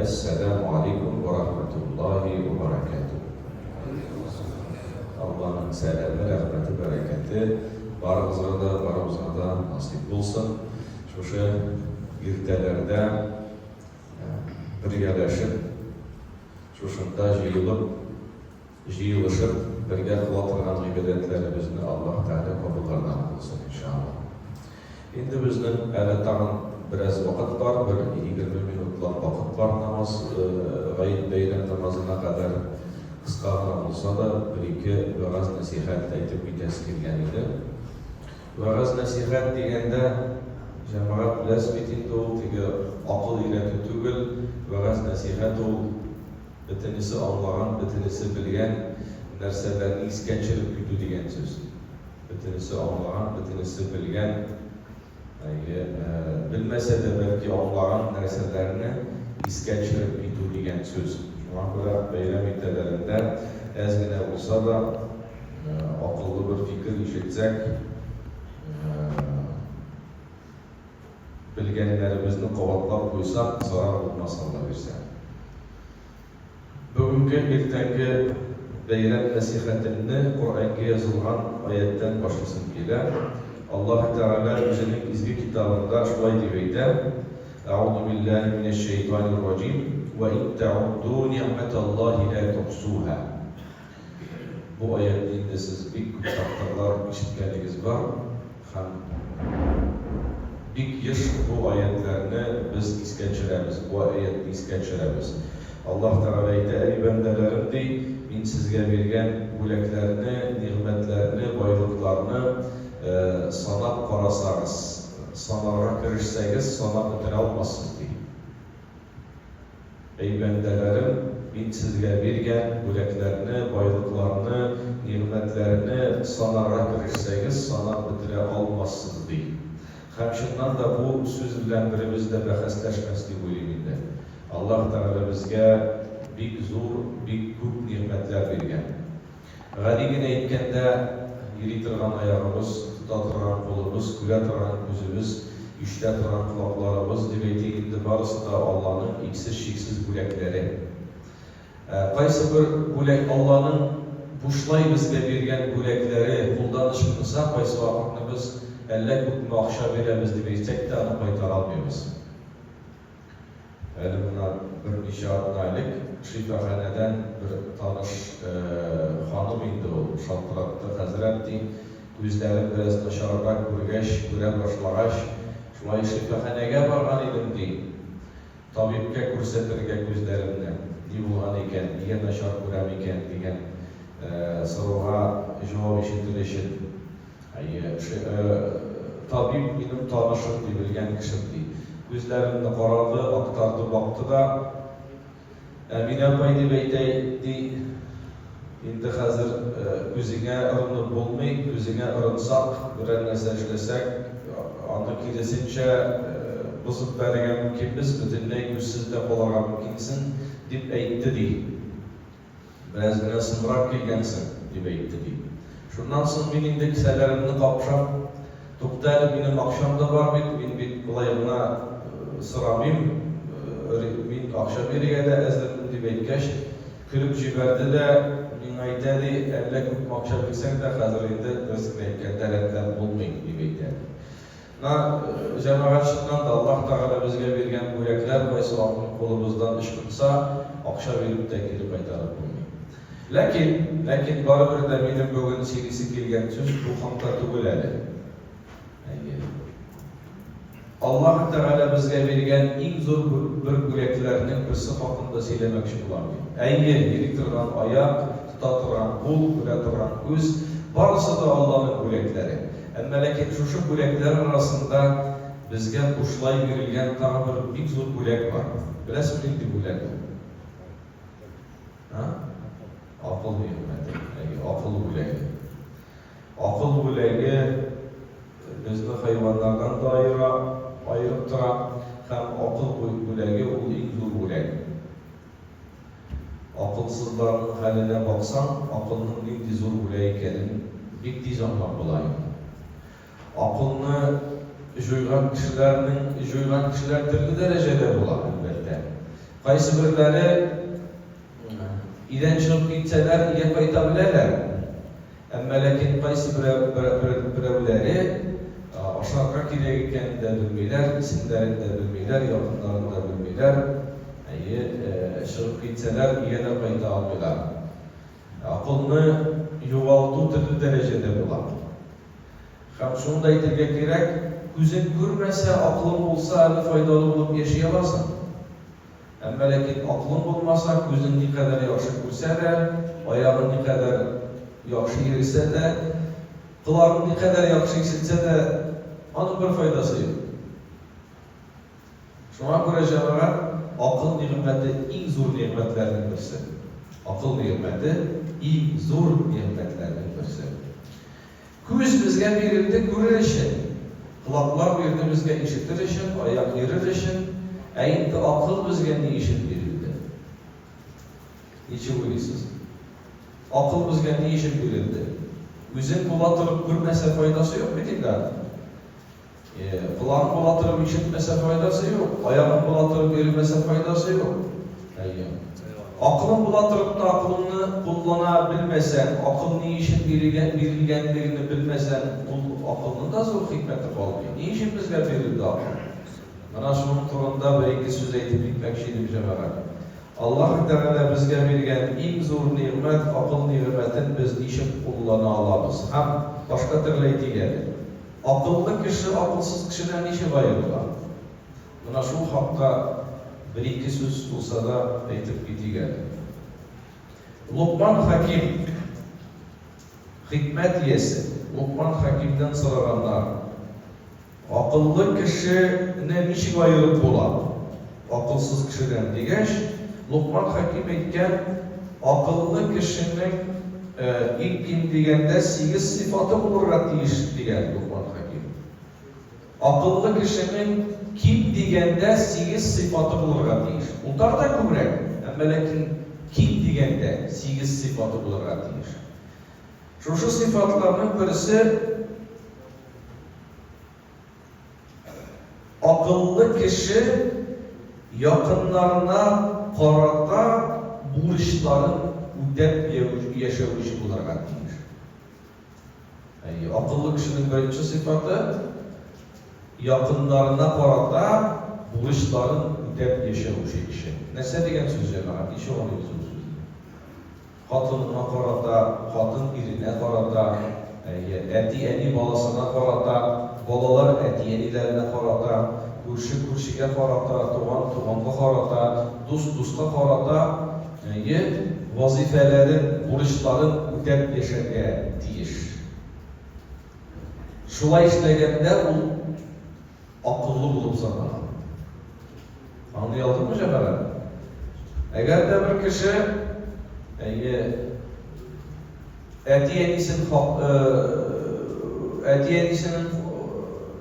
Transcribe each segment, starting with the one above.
Әссәләмү алейкум вә рахмәтуллаһи вә бәрәкәтүһ! Алланың сәламе, рәхмәте, бәрәкәте барыгызга да, барыбызга да насыйп булсын! Шушы иртәләрдә бергәләшеп, шушында җыелып, Җыелышып, бергә кыла торган гыйбадәтләребезне Аллаһ Тәгалә кабуллардан кылсын, иншаАллаһ. Инде безнең әле тагын бераз вакыт бар, бер егерме минутлап вакыт бар намаз, гает бәйрәм намазына кадәр. Кыска гына булса да, бер-ике вәгазь-нәсыйхәт әйтеп китәсе килгән иде. Вәгазь-нәсыйхәт дигәндә, җәмәгать, беләсез бит инде, ул теге акыл өйрәтү түгел, вәгазь-нәсыйхәт ул, Бөтенесе аңлаган, бөтенесе белгән нәрсәләрне искә төшереп китү дигән сүз. Бөтенесе аңлаган, бөтенесе белгән, әйе, белмәсә дә, бәлки, аңлаган нәрсәләрне искә төшереп китү дигән сүз. Шуңа күрә бәйрәм иртәләрендә әз генә булса да акыллы бер фикер ишетсәк, белгәннәребезне кабатлап куйсак, зарар булмас, Аллабирсә. Бүгенге иртәнге бәйрәм нәсыйхәтемне Коръәнгә язылган аятьтән башлыйсым килә. Аллаһы Тәгалә Үзенең изге Китабында шулай дип әйтә, Әгъузу биллаһи минәш-шәйтанир-раҗим, Вә ин тәгудду ни'мәталлаһи лә тухсуһа. Бу аятьне инде сез бик күп тапкырлар ишеткәнегез бар һәм бик еш бу аятьләрне без искә төшерәбез, бу аятьне искә төшерәбез. Аллаһ Тәгалә әйтә, Әй бәндәләрем, ди, Мин сезгә биргән бүләкләрне, нигъмәтләрне, байлыкларны санап карасагыз, санарга керешсәгез, санап бетерә алмассыз, ди. Әй бәндәләрем, мин сезгә биргән бүләкләрне, байлыкларны, нигъмәтләрне санарга керешсәгез, санап бетерә алмассыз, ди. Һәм чыннан да бу сүз белән беребез дә бәхәсләшмәс дип уйлыйм инде. Аллаһ Тәгалә безгә бик зур, бик күп нигъмәтләр биргән. Гади генә әйткәндә, йөри торган аягыбыз, тота торган кулыбыз, күрә торган күзебез, ишетә торган колакларыбыз, дип әйтик инде, барысы да Алланың иксез-чиксез бүләкләре. Ә кайсыбер бүләк Алланың бушлай безгә биргән бүләкләре, кулдан ычкынса, кайсы вакытны без әллә күпме акча бирәбез дип әйтсәк тә, аны кайтара алмыйбыз. Әле гына берничә атна элек шифаханәдән бер таныш ханым инде ул, шалтыратты, Хәзрәт, ди, күзләрем бераз начаррак күргәч, күрә башлагач, шулай шифаханәгә барган идем, ди, табибкә күрсәтергә күзләремне. Ни булган икән, нигә начар күрәм икән, дигән соруга җавап ишетер өчен. Әйе, табиб минем танышым, ди, белгән кешем, ди. Күзләремне карады, актарды, бакты да, Әминә апай дип әйтәй, ди, инде хәзер күзеңә ырынып булмый, күзеңә ырынсак, берәр нәрсә эшләсәк, аны киресенчә бозып бәрергә мөмкинбез, бөтенләй күзсез дә калырга мөмкинсең, дип әйтте, ди. Бераз генә соңрак килгәнсең, дип әйтте, ди. Шуннан соң мин инде кесәләремне капшап, Тукта әле, минем акчам да бар бит, мин бит болай гына сорамыйм, мин акча бирергә дә әзермен, дип әйткәч, көлеп җибәрде дә, миңа әйтә, ди, Әллә күпме акча бирсәң дә, хәзер инде, дөресен генә әйткәндә, рәтләп булмый, дип әйтә, ди. Менә җәмәгатьчелектән дә Аллаһ Тәгалә безгә биргән бүләкләр кайсы вакытны кулыбыздан ычкынса, акча биреп тә кире кайтарып булмый. Ләкин, ләкин барыбер дә минем бүген сөйлисе килгән сүз бу хакта түгел әле. Әйе. Аллаһ Тәгалә безгә биргән иң зур бер бүләкләрнең берсе хакында сөйләмәкче булам мин. Әйе, йөри торган аяк, тота торган кул, күрә торган күз, барысы да Алланың бүләкләре. Әмма ләкин шушы бүләкләр арасында безгә бушлай бирелгән тагы бер бик зур бүләк бар. Беләсең нинди бүләк ул? А? Акыл нигъмәте. Әйе, акыл бүләге. Акыл бүләге безне хайваннардан да аера, аерып тора һәм акыл бүләге ул иң зур бүләк. Акылсызларның хәленә баксаң, акылның нинди зур бүләк икәнен бик тиз аңлап була инде. Акылны җуйган кешеләрнең җуйган кешеләр төрле дәрәҗәдә була, әлбәттә. Кайсыберләре өйдән чыгып китсәләр, өйгә кайта беләләр. Әмма ләкин кайсы берәүләре ашарга кирәк икәнен дә белмиләр, исемнәрен дә белмиләр, якыннарын да белмиләр, әйе, чыгып китсәләр, өйгә дә кайта алмыйлар. Акылны югалту төрле дәрәҗәдә була. Һәм шуны да әйтергә кирәк, күзең күрмәсә, акылың булса әле файдалы булып яши аласың. Әмма ләкин акылың булмаса, күзең никадәр яхшы күрсә дә, аягың никадәр яхшы йөресә дә, колагың никадәр яхшы ишетсә дә, аның бер файдасы юк. Шуңа күрә, җәмәгать, акыл нигъмәте иң зур нигъмәтләрнең берсе. Акыл нигъмәте иң зур нигъмәтләрнең берсе. Күз безгә бирелде күрер өчен, колаклар бирде безгә ишетер өчен, аяк йөрер өчен, ә инде акыл безгә ни өчен бирелде? Ничек уйлыйсыз? Акыл безгә ни өчен бирелде? Үзең була торып күрмәсә файдасы юк бит инде аның. План була торып ишетмәсә файдасы юк, аягың була торып йөремәсә файдасы юк. Әйе. Акылың була торып та акылыңны куллана белмәсәң, акыл ни өчен бирелгән, бирелгәнлегене белмәсәң, ул акылның да зур хикмәте калмый. Ни өчен безгә бирелде акыл? Менә шуның турында бер-ике сүз әйтеп китмәкче идем, җәмәгать. Аллаһ Тәгалә безгә биргән иң зур нигъмәт, акыл нигъмәтен без ничек куллана алабыз? Һәм башка төрле әйтик әле. Акыллы кеше акылсыз кешедән ничек аерыла? Менә шул хакта бер-ике сүз булса да әйтеп китик әле. Локман Хәким, хикмәт иясе, Локман Хәкимдән сораганнар, Акыллы кешене ничек аерып була? акылсыз кешедән, дигәч, Локман хәким әйткән, Акыллы кешенең иң ким дигәндә сигез сыйфаты булырга тиеш, дигән Локман хәким. Акыллы кешенең ким дигәндә сигез сыйфаты булырга тиеш. Утар да күбрәк, әмма ләкин ким дигәндә сигез сыйфаты булырга тиеш. Шушы сыйфатларның берсе. Акыллы кеше якыннарына карата бурычларын үтәп яшәүче булырга тиеш. Әйе, акыллы кешенең беренче сыйфаты, якыннарына карата бурычларын үтәп яшәүче кеше. Нәрсә дигән сүз, җәмәгать? Ничек аңлыйбыз бу сүзне? Хатынына карата, хатын иренә карата, әйе, әти-әни баласына карата, балалар әти-әниләренә карата, күрше күршегә карата, туган туганга карата, дус дуска карата, әйе, вазыйфәләрен, бурычларын үтәп яшәргә тиеш. Шулай эшләгәндә ул. акыллы булып санала. Аңлый алдыкмы, җәмәгать? Әгәр дә бер кеше, әйе, әти-әнисен әти-әнисенең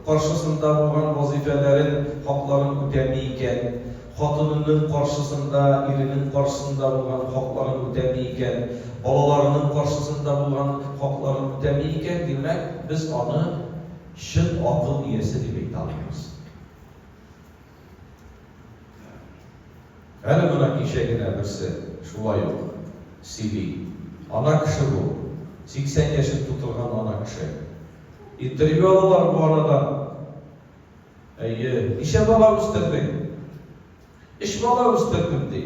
каршысында булган вазыйфәләрен, хакларын үтәми икән, хатынының каршысында, иренең каршысында булган хакларын үтәми икән, балаларының каршысында булган хакларын үтәми икән, димәк, без аны чын акыл иясе дип әйтә алмыйбыз. Әле гына кичә генә берсе шулай ук сөйли. Ана кеше бу, 80 яшен тутырган ана кеше. Интервью алалар бу анадан. Әйе, ничә бала үстердең? Өч бала үстердем, ди.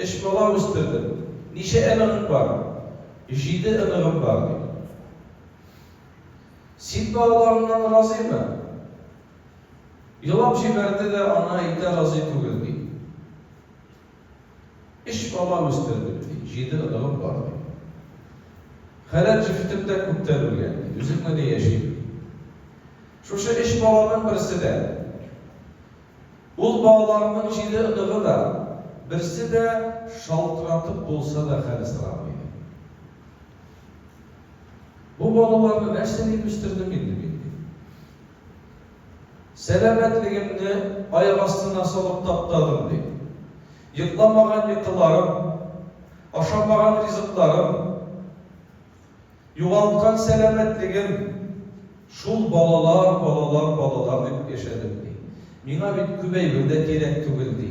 Өч бала үстердем. Ничә оныгың бар? Җиде оныгым бар, ди. Син дә аларыннан разыймы? Елап җибәрде дә, аны әйтә разый түгел, ди. Өч бала үстердем, ди. Җиде оныгым бар, ди. Хәләл җефтем дә күптән үлгән, ди. Үзем генә яшим, ди. Шушы өч баланың берсе дә, ул балаларның җиде оныгы да, берсе дә шалтыратып булса да хәл сорамый, ди. Бу балаларны нәрсә дип үстердем инде мин, ди. Сәламәтлегемне аяк астына салып таптадым, ди. Йокламаган йокыларым, ашамаган ризыкларым, югалткан сәламәтлегем. Шул балалар, балалар, балалар дип яшәдем, ди. Миңа бит күп әйбер дә кирәк түгел, ди.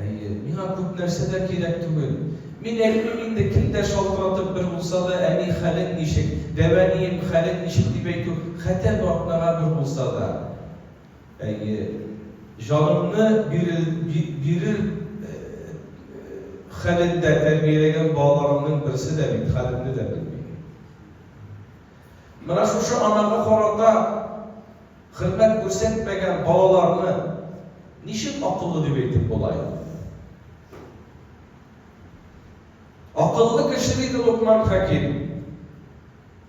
Әйе, миңа күп нәрсә дә кирәк түгел. Мин әйтмим инде, кем дә шалтыратып бер булса да, әни, хәлең ничек, дәвәнием, хәлең ничек дип әйтү, хәтәр вакнага бер булса да. Әйе, җанымны бирер, би, бирер хәлендә тәрбияләгән балаларымның берсе дә бит хәлемне дә белми. Менә шушы анага карата хөрмәт күрсәтмәгән балаларны ничек акыллы дип әйтеп була инде? Акыллы кеше, диде Локман Хәким,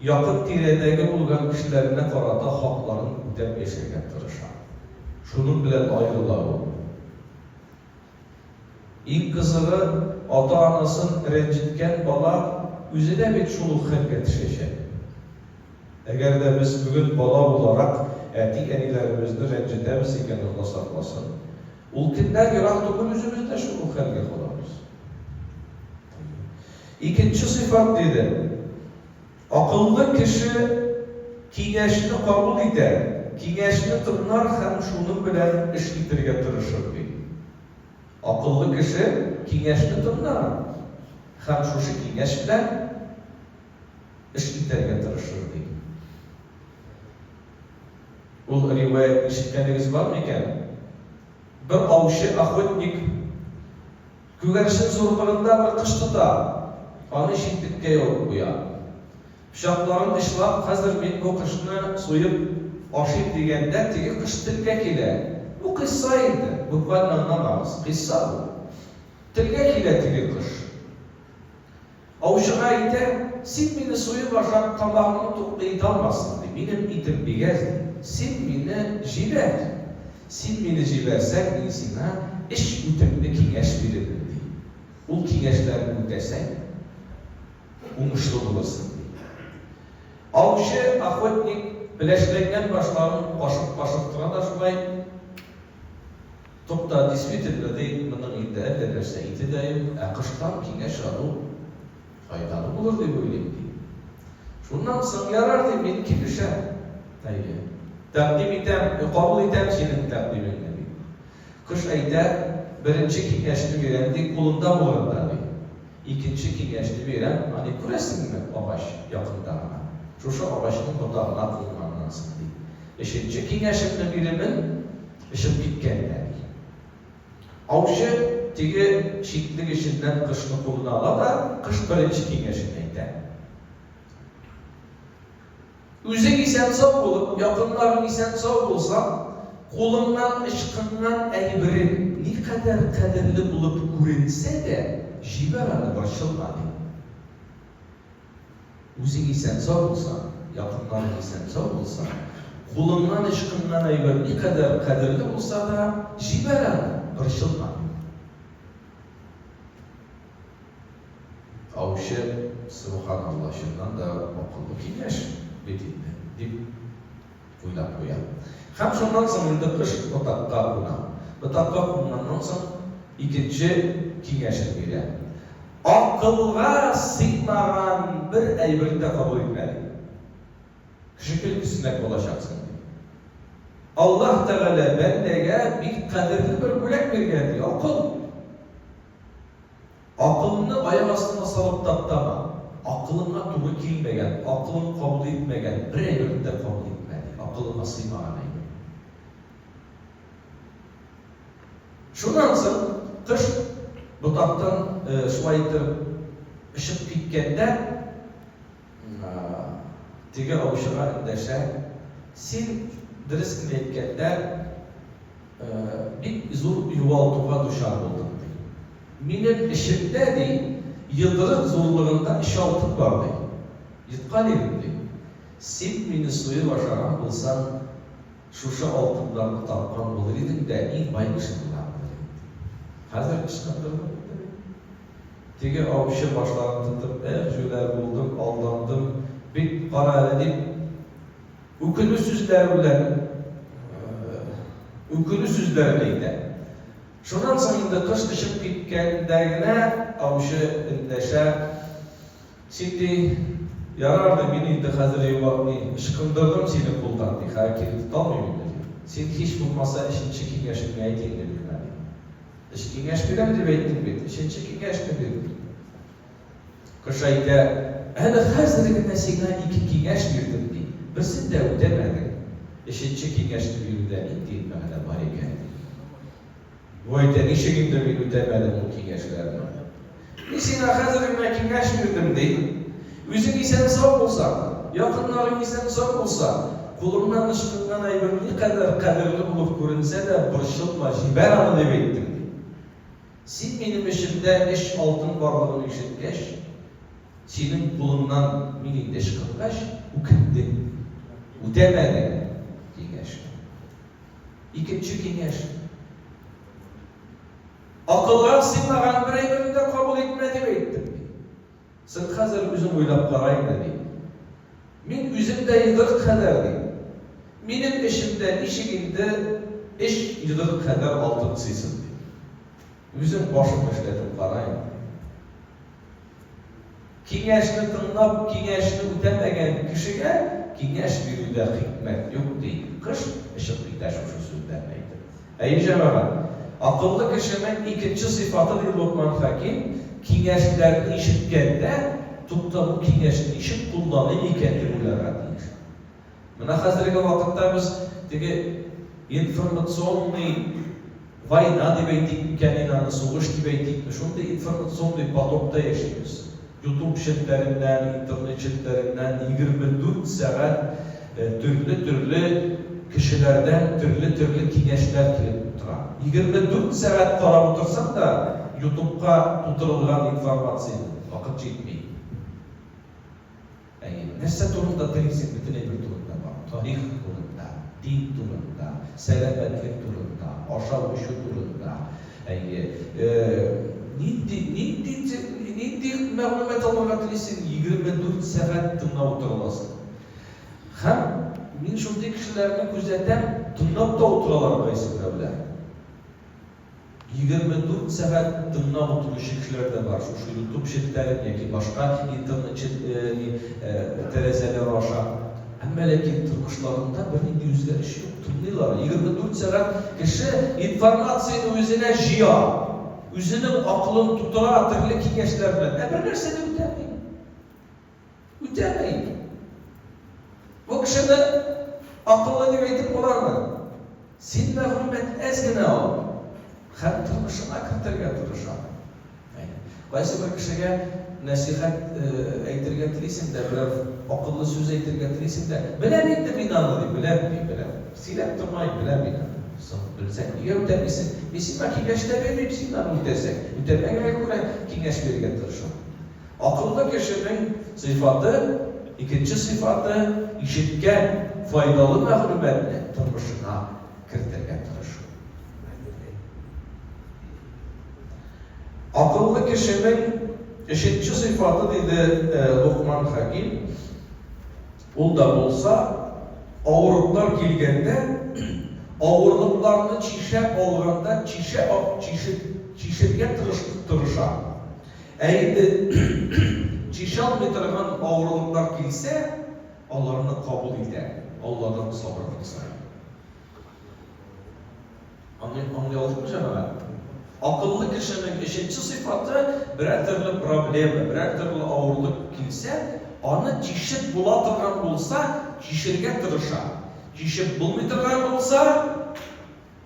якын тирәдәге булган кешеләренә карата хакларын үтәп яшәргә тырыша. Шуның белән аерыла ул. Иң кызыгы, ата-анасын рәнҗеткән бала үзе дә бит шул ук хәлгә төшәчәк. Әгәр дә без бүген бала буларак әти-әниләребезне рәнҗетәбез икән, Алла сакласын, ул көннәр ерак түгел, үзебез дә шул ук хәлгә калабыз. Икенче сыйфат, диде. Акыллы кеше киңәшне кабул итәр, киңәшне тыңлар һәм шуның белән эш итәргә тырышыр, ди. Акыллы кеше киңәшне тыңлар һәм шушы киңәш белән эш итәргә тырышыр, ди. Ул риваятьне ишеткәнегез бармы икән? Бер аучы, охотник, Күгәрчен зурлыгында бер кош тота, аны читлеккә ябып куя. Пычакларын очлап, хәзер мин бу кошны суеп ашыйм дигәндә, теге кош телгә килә. Бу кыйсса инде, буквально аннан агыз, кыйсса бу. Телгә килә теге кош. Аучыга әйтәм, Син мине суеп ашап, тамагыңны туклый италмассың, ди. Минем итем бик әз, ди. Син мине җибәр. Син мине җибәрсәң, мин сиңа эш үтемле киңәш бирермен, ди. Ул киңәшләрне үтәсәң, уңышлы булырсың, ди. Аучы, охотник, пеләшләнгән башларын кашып-кашып тора да шулай. Тукта, действительно ди, моның инде әллә нәрсә ите дә юк, ә кыштан киңәш алу файдалы булыр дип уйлыйм, ди. Шуннан соң, ярар, дим, мин килешәм. Әйе. Тәкъдим итәм, кабул итәм синең тәкъдимеңне, ди. Кош әйтә, Беренче киңәшне бирәм, ди, кулында булганда, ди. Икенче киңәшне бирәм, ани, күрәсеңме, агач, якында гына. Шушы агачның ботагына кунганнан соң, ди. Өченче киңәшемне бирермен, Очып киткән дә, ди. Аучы теге читнең эченнән кошны кулына ала да, кыш беренче киңәшен әйтә. Үзең исән-сау булып, якыннарың исән-сау булса, кулыңнан ычкынган әйберең никадәр кадерле булып күренсә дә, җибәр аны борчылма, ди. Үзең исән-сау булсаң, якыннарың исән-сау булса, кулыңнан ычкынган әйбер никадәр кадерле булса да, җибәр аны, борчылма. Аучы, Сөбханалла, чыннан да акыллы киңәш бит инде, дип, уйнап куя. Һәм шуннан соң инде кыш ботакка куна. Ботакка кунганнан соң икенче киңәшен бирә. Акылга сыймаган бер әйберне дә кабул итмә, ди. Кеше көн кисмәк булачаксың, ди. Аллаһ Тәгалә бәндәгә бик кадерле бер бүләк биргән, ди, акыл. Акылымны аяк астыма салып таптама. Акылыңа туры килмәгән, акылың кабул итмәгән бер әйберне дә кабул итмә, ди. Акылыңа сыймаган әйбер. Шуннан соң кош ботактан шулай итеп очып киткәндә, Теге аучыга эндәшә. Син, дөрес кенә әйткәндә, бик зур югалтуга дучар булдың, ди. Минем эчемдә, ди, йодрык зурлыгында өч алтын бар, ди. Йоткан идем, ди. Син мине суеп ашаган булсаң. Шушы алтыннарны тапкан булыр идең дә иң бай кеше булган булыр идең. Хәзер ычкындырдым инде мин. Теге аучы башларын тотып, Эх, җүләр булдым, алдандым бит, кара әле, дип, үкенү сүзләре белән үкенү сүзләрен әйтә. Шуннан соң инде кыш очып киткәндә генә аучы эндәшә. Син, ди, ярар, ди, мин инде хәзер йомарт, ди, ычкындырдым сине кулдан, ди, хәер кире тоталмыйм инде, ди. Син һич булмаса өченче киңәшеңне әйт инде миңа, ди. Өч киңәш бирәм дип әйттең бит, өченче киңәшне бир, ди. Кош әйтә, Әле хәзер генә сиңа ике киңәш бирдем, ди, берсен дә үтәмәдең. Өченче киңәшне бирүдә нинди мәгънә бар икән, ди. Вай дә, ничек инде мин үтәмәдем ул киңәшләрне. Мин сиңа хәзер генә киңәш бирдем, ди. Үзең исән-сау булсаң, якыннарың исән-сау булса, кулыңнан ычкынган әйбер никадәр кадерле булып күренсә дә, борчылма, җибәр аны, дип әйттем, ди. Син минем эчемдә өч алтын барлыгын ишеткәч, синең кулыңнан мин инде ычкынгач, үкендең, ди. Үтәмәдең киңәшне. Икенче киңәш. Акылга сыймаган бер әйберне дә кабул итмә, дип әйттем, ди. Син хәзер үзең уйлап кара инде, ди. Мин үзем дә йодрык кадәр, ди. Минем эчемдә ничек инде өч йодрык кадәр алтын сыйсын, ди. Үзең башыңны эшләтеп кара инде, ди. Киңәшне тыңлап, киңәшне үтәмәгән кешегә киңәш бирүдә хикмәт юк, ди Кыш очып китә шушы сүзләрне әйтеп. Әйе, җәмәгать, акыллы кешенең икенче сыйфаты, ди Локман Хәким, киңәшләрне ишеткәндә, Тукта, бу киңәшне ничек кулланыйм икән, дип уйларга тиеш. Менә хәзерге вакытта без теге информационный война дип әйтик микән инде аны, сугыш дип әйтикме, шундый информационный потокта яшибез. Ютуб челтәреннән, интернет челтәреннән 24 сәгать төрле-төрле кешеләрдән төрле-төрле киңәшләр килеп тора. 24 сәгать карап утырсаң да, ютубка тутырылган информацияне вакыт җитми. Әйе, нәрсә турында телисең, бөтен әйбер турында бар, тарих турында, дин турында, сәламәтлек турында, ашау-эчү турында, әйе, нинди, нинди, нинди мәгълүмат алырга телисең, егерме дүрт сәгать тыңлап утыра аласың. Һәм мин шундый кешеләрне күзәтәм, тыңлап та утыралар кайсы берәүләр. Егерме дүрт сәгать тыңлап утыручы кешеләр дә бар, шушы ютуб челтәрен яки башка интернет чел ни тәрәзәләре аша. Әмма ләкин тормышларында бернинди үзгәреш юк, тыңлыйлар. Егерме дүрт сәгать кеше информацияне үзенә җыя, үзенең акылын тутыра, төрле киңәшләр белән, ә бернәрсә дә үтәми. Үтәмәик. Бу кешене акыллы дип әйтеп буламы? Син мәгълүмат әз генә ал һәм тормышыңа кертергә тырыш аны. Әйе. Кайсы бер кешегә нәсыйхәт әйтергә телисең дә, берәр акыллы сүз әйтергә телисең дә, Беләм инде мин аны, ди. Беләм, ди, беләм. Сөйләп тормаем, беләм мин аны. Соң, белсәң, нигә үтәмисең? Мин сиңа киңәш тә бирмим, син аны үтәсәң. Үтәмәгәнгә күрә киңәш бирергә тырышам. Акыллы кешенең сыйфаты, икенче сыйфаты, ишеткән файдалы мәгълүматны тормышыңа кертергә тырышу. Акыллы кешенең өченче сыйфаты, диде Локман Хәким, ул да булса, авырлыклар килгәндә, авырлыкларны чишә алганда чишә, чишергә тырыша. Ә инде чишалмый торган авырлыклар килсә, аларны кабул итә, Алладан сабырлык сорый. Аны аңлый алдыкмы, җәмәгать? Акыллы кешенең өченче сыйфаты, берәр төрле проблема, берәр төрле авырлык килсә, аны чишеп була торган булса, чишергә тырыша. Чишеп булмый торган булса.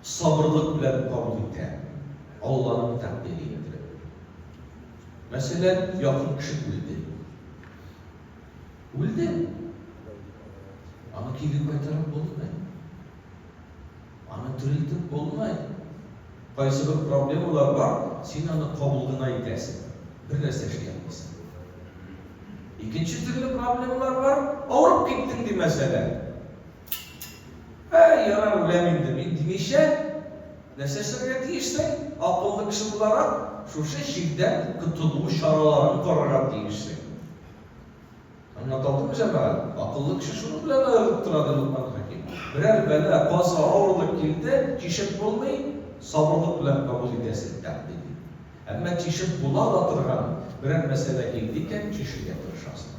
сабырлык белән кабул итә, Алланың тәкъдире иттереп. Мәсәлән, якын кеше үлде. Үлде. Аны кире кайтарып булмый. Аны терелтеп булмый. Кайсы бер проблемалар бар, син аны кабул гына итәсең. Бер нәрсә эшли алмыйсың. Икенче төрле проблемалар бар, авырып киттең ди мәсәлән. Әй, ярар, үләм инде мин, димичә, нәрсә эшләргә тиешсең? Акыллы кеше буларак, шушы чирдән котылу чараларын карарга тиешсең. Аңлаталдымы, җәмәгать? Акыллы кеше шуның белән аерылып тора, ди Локман Хәким. Берәр бәла, каза, авырлык килде, тишеп булмый, сабырлык белән кабул итәсең, тәкъдим итте. Әмма тишеп була да торган берәр мәсьәлә килде икән, тишергә тырышасың.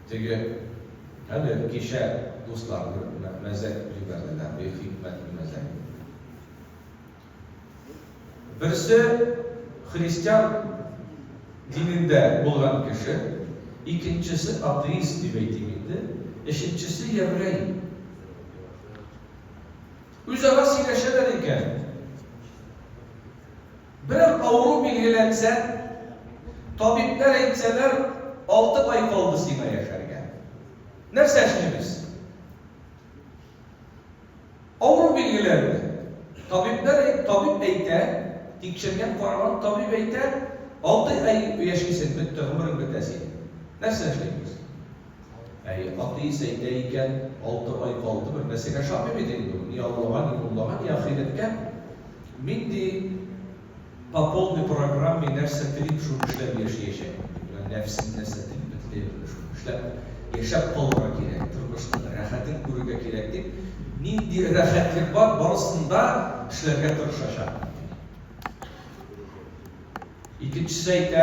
Теге, әле кичә дусларны мәзәк итеп җибәрделәр, бик хикмәтле мәзәк иде. Берсе, христиан динендә булган кеше, икенчесе, атеист дип әйтим инде, өченчесе, еврей. Үзара сөйләшәләр икән. Берәр авыру билгеләнсә, табибләр әйтсәләр, алты ай калды сиңа яшәргә. Нәрсә эшлибез? Авыру билгеләнде. Табибләр, табиб әйтә, тикшергән, караган табиб әйтә, алты ай яшисең, бетте, гомерең бетә синең. Нәрсә эшлибез? Әй, Атый сәйдә икән, алты ай калды, бер нәрсәгә ошамый бит инде ул, ни Аллага, ни муллага, ни ахирәткә. Мин, ди, по полной программе нәрсә телим, шуны эшләп яшиячәкмен, ди. Менә нәфсем нәрсә телиме, тели белми, шуны эшләп яшәп калырга кирәк, тормышның рәхәтен күрергә кирәк, дип, нинди рәхәтлек бар, барысын да эшләргә тырышачакмын, ди. Икенчесе әйтә,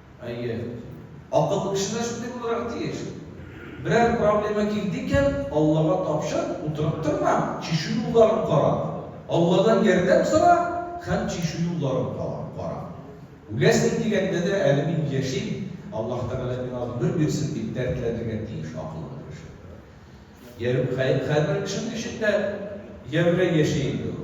Әйе. Акыллы кеше дә шундый булырга тиеш. Берәр проблема килде икән, Аллага тапшыр, утырып торма, чишү юлларын кара. Алладан ярдәм сора һәм чишү юлларын кала, кара. Үләсең дигәндә дә, әле мин яшим, Аллаһ Тәгалә миңа гомер бирсен, дип дәртләнергә тиеш акыллы кеше. Ярү, хәй, хәрбер кешенең эчендә ярүләй яши инде ул.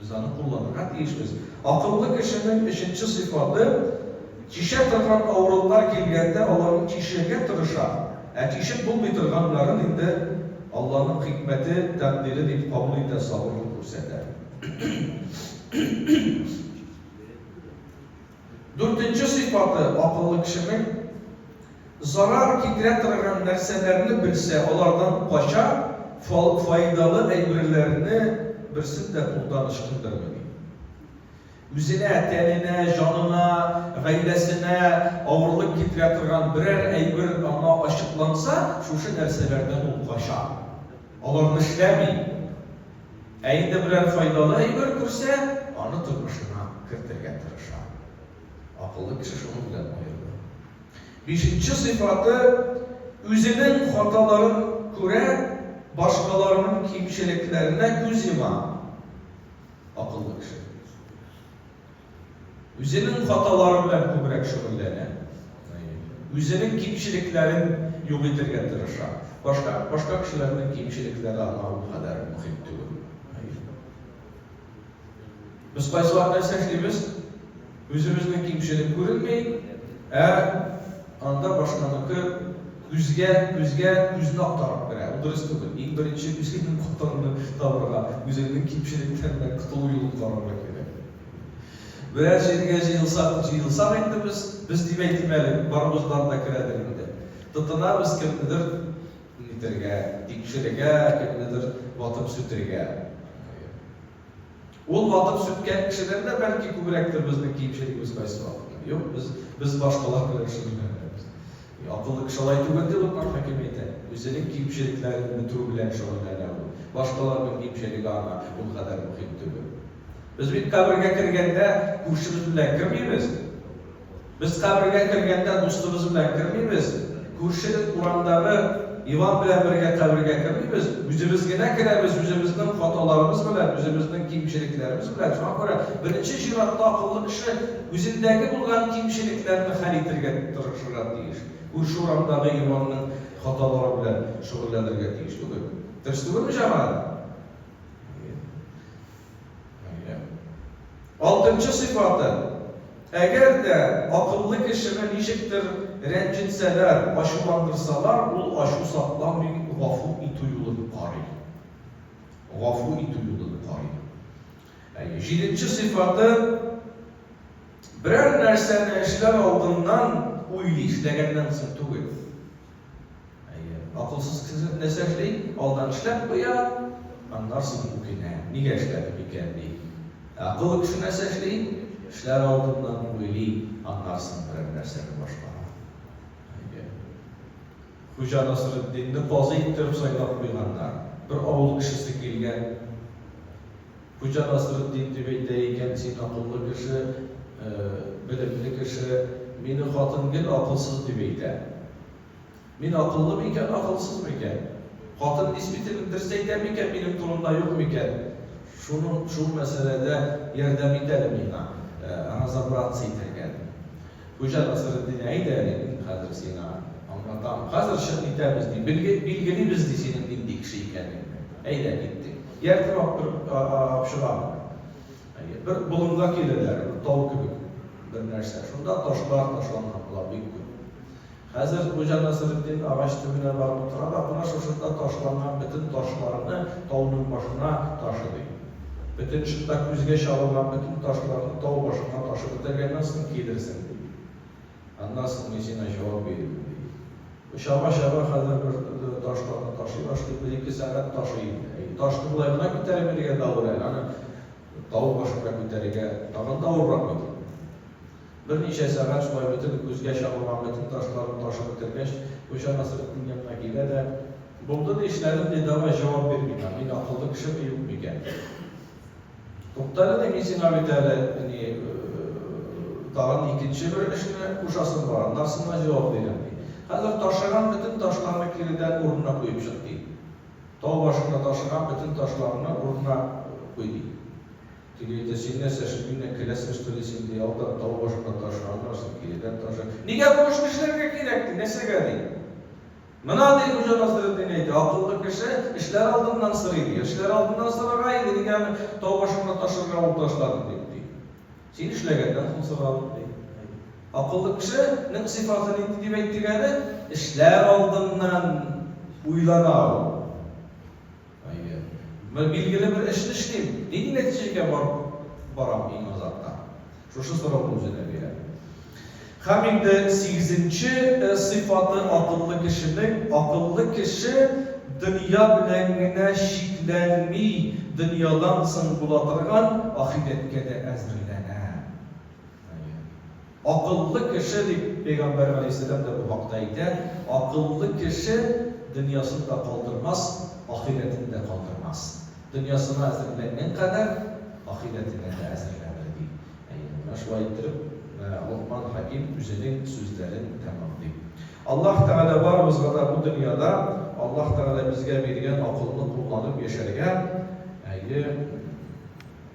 Без аны кулланырга тиешбез. Акыллы кешенең өченче сыйфаты, чишә торган авырлыклар килгәндә аларны чишергә тырыша, ә чишеп булмый торганнарын инде Алланың хикмәте, тәкъдире дип кабул итә, сабырлык күрсәтә. Дүртенче сыйфаты, акыллы кешенең, зарар китерә торган нәрсәләрне белсә, алардан кача, фаидалы әйберләрне берсен дә кулдан ычкындырмый, ди. Үзенә, тәненә, җанына, гаиләсенә авырлык китерә торган берәр әйбер аңа ачыкланса, шушы нәрсәләрдән ул кача, аларны эшләми, Ә инде берәр файдалы әйбер күрсә, аны тормышына кертергә тырыша. Акыллы кеше шуның белән аерыла. Бишенче сыйфаты, үзенең хаталарын күрә, башкаларның кимчелекләренә күз йома. Акыллы кеше. Үзенең хаталары белән күбрәк шөгыльләнә, үзенең кимчелекләрен юк итергә тырыша. Башка, башка кешеләрнең кимчелекләре аңа ул кадәр мөһим түгел. Без кайсы вакыт нәрсә эшлибез? Үзебезнең кимчелек күренми, ә. Анда башканыкы күзгә, күзгә күзне актарып керә. Ул дөрес түгел. Иң беренче үзеңнең капкаңны табырга, үзеңнең кимчелекләреңнән котылу юлын карарга кирәк. Берәр җиргә җыелсак, җыелсак инде без, без дип әйтим әле, барыбыздан да керәдер инде. Тотынабыз кемнедер нитәргә, тикшерергә, кемнедер ватып-сүтергә. Ул ватып сүткән кешедән дә бәлки күбрәктер безнең кимчелегебез кайсы вакытта. Юк, без, без башкалар белән шөгыльләнәбез. И, акыллы кеше алай түгел, дип Локман хәким әйтә. Үзенең кимчелекләрен бетерү белән шөгыльләнә ул. Башкаларның кимчелеге аңа ул кадәр мөһим түгел. Без бит кабергә кергәндә күршебез белән кермибез. Без кабергә кергәндә дустыбыз белән кермибез, күрше урамдагы Иван белән бергә кабергә кермибез, үзебез генә керәбез, үзебезнең хаталарыбыз белән, үзебезнең кимчелекләребез белән. Шуңа күрә беренче чиратта акыллы кеше үзендәге булган кимчелекләрне хәл итергә тырышырга тиеш. Күрше урамдагы Иванның хаталары белән шөгыльләнергә тиеш түгел. Дөрес түгелме, җәмәгать? Әйе. Алтынчы сыйфаты, Әгәр дә акыллы кешене ничектер рәнҗетсәләр, ачуландырсалар, ул ачу сакламый, гафу итү юлын карый. Гафу итү юлын карый. Әйе. Җиденче сыйфаты, Берәр нәрсәне эшләр алдыннан уйлый, эшләгәннән соң түгел. Әйе, акылсыз кеше нәрсә эшли? Алдан эшләп куя, аннар соң үкенә, нигә эшләдем икән ди. Ә акыллы кеше нәрсә эшли? Эшләр алдыннан уйлый, аннар соң берәр нәрсәне башкара. Әйе. Хуҗа Насретдинне казый иттереп сайлап куйганнар. Бер авыл кешесе килгән. Хуҗа Насретдин дип әйтә икән, син акыллы кеше, белемле кеше, мине хатын гел акылсыз дип әйтә. Мин акыллы микән, акылсыз микән? Хатын действительно дөрес әйтә микән, минем турымда юк микән? Шуның, шул мәсьәләдә ярдәм ит әле миңа, разобраться итәргә, ди. Хуҗа Насретдин, әйдә әле, мин хәзер сиңа аңлатам, хәзер чык китәбез, ди, билгелибез, ди, синең нинди кеше икәнеңне. Әйдә, киттек. Ияртеп алып чыгам. Бер болынга киләләр, бер тау кебек бер нәрсә. Шунда ташлар ташланган була бик күп. Хәзер Хуҗа Насретдин агач төбенә барып утыра да кына шушында ташланган бөтен ташларны тауның башына ташыдый. Бөтен шунда күзгә чалынган бөтен ташларны тау башына ташып бетергәннән соң килерсең, ди. Аннан соң мин сиңа җавап бирермен, ди. Бу чаба-чаба хәзер бер ташларны ташый башлый, бер-ике сәгать ташый инде. Әйе, ташны болай гына күтәрелергә дә авыр әле, аны тау башына күтәрергә тагын да авыррак бит инде. Берничә сәгать шулай үтеп, күзгә чалмаган бөтен ташларын ташып бетергәч, Гөлчар Насретдин янына килә дә, Булды ди эшләрем, ди, давай, җавап бир миңа, мин акыллы кешеме, юкмы икән? Туктале ди, мин сиңа бит әле, әни, тагын икенче бер эшне кушасым бар, аннарсы миңа җавап бирәм, ди. Хәзер ташыган бөтен ташларны киредән урынына куеп чык, ди. Тау башында ташыган бөтен ташларны урынына куй, ди. Теге әйтә, Син нәрсә, шикелле киләсең, что ли, син, ди, алдан тау башына ташы, аннан соң киредән ташы. Нигә бу эшне эшләргә кирәк, ди, нәрсәгә, ди? Менә, ди, Хуҗа Насретдин әйтә, акыллы кеше эшләр алдыннан сорый, ди. Эшләр алдыннан сорарга иде, нигә аны тау башына ташырга ул ташлады дип, ди. Син эшләгәннән соң соралык, ди. Акыллы кешенең сыйфаты нинди дип әйттек әле? Эшләр алдыннан уйлана ул. Әйе. Мен билгеле бер эшне эшлим. Нинди нәтиҗәгә барып барам иң азакка? Шушы сорауны үзенә бирә. Һәм инде сигезенче сыйфаты акыллы кешенең, акыллы кеше дөнья белән генә чикләнми, дөньядан соң була торган ахирәткә дә әзерләнә. Әйе. Акыллы кеше, дип пәйгамбәр галәйһиссәлам да бу хакта әйтә, акыллы кеше дөньясын да калдырмас, ахирәтен дә калдырмас. Дөньясына әзерләнгән кадәр ахирәтенә дә әзерләнер, ди. Әйе, менә шулай иттереп Локман хәким үзенең сүзләрен тәмамлый. Аллаһ Тәгалә барыбызга да бу дөньяда Аллаһ Тәгалә безгә биргән акылны кулланып яшәргә, әйе,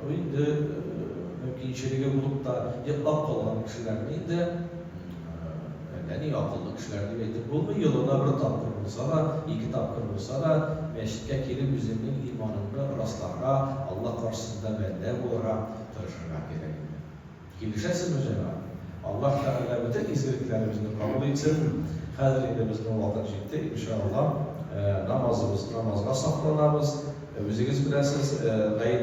Бу инде мөмкинчелеге булып та йоклап калган кешеләрне инде әллә ни акыллы кешеләр дип әйтеп булмый, елына бер тапкыр булса да, ике тапкыр булса да мәчеткә килеп үзеңнең иманыңны расларга, Алла каршысында бәндә булырга тырышырга кирәк инде. Килешәсезме, җәмәгать? Аллаһ Тәгалә бөтен изгелекләребезне кабул итсен. Хәзер инде безнең вакыт җитте, иншаАллаһ, намазыбыз, намазга сакланабыз. Үзегез беләсез, гаеп.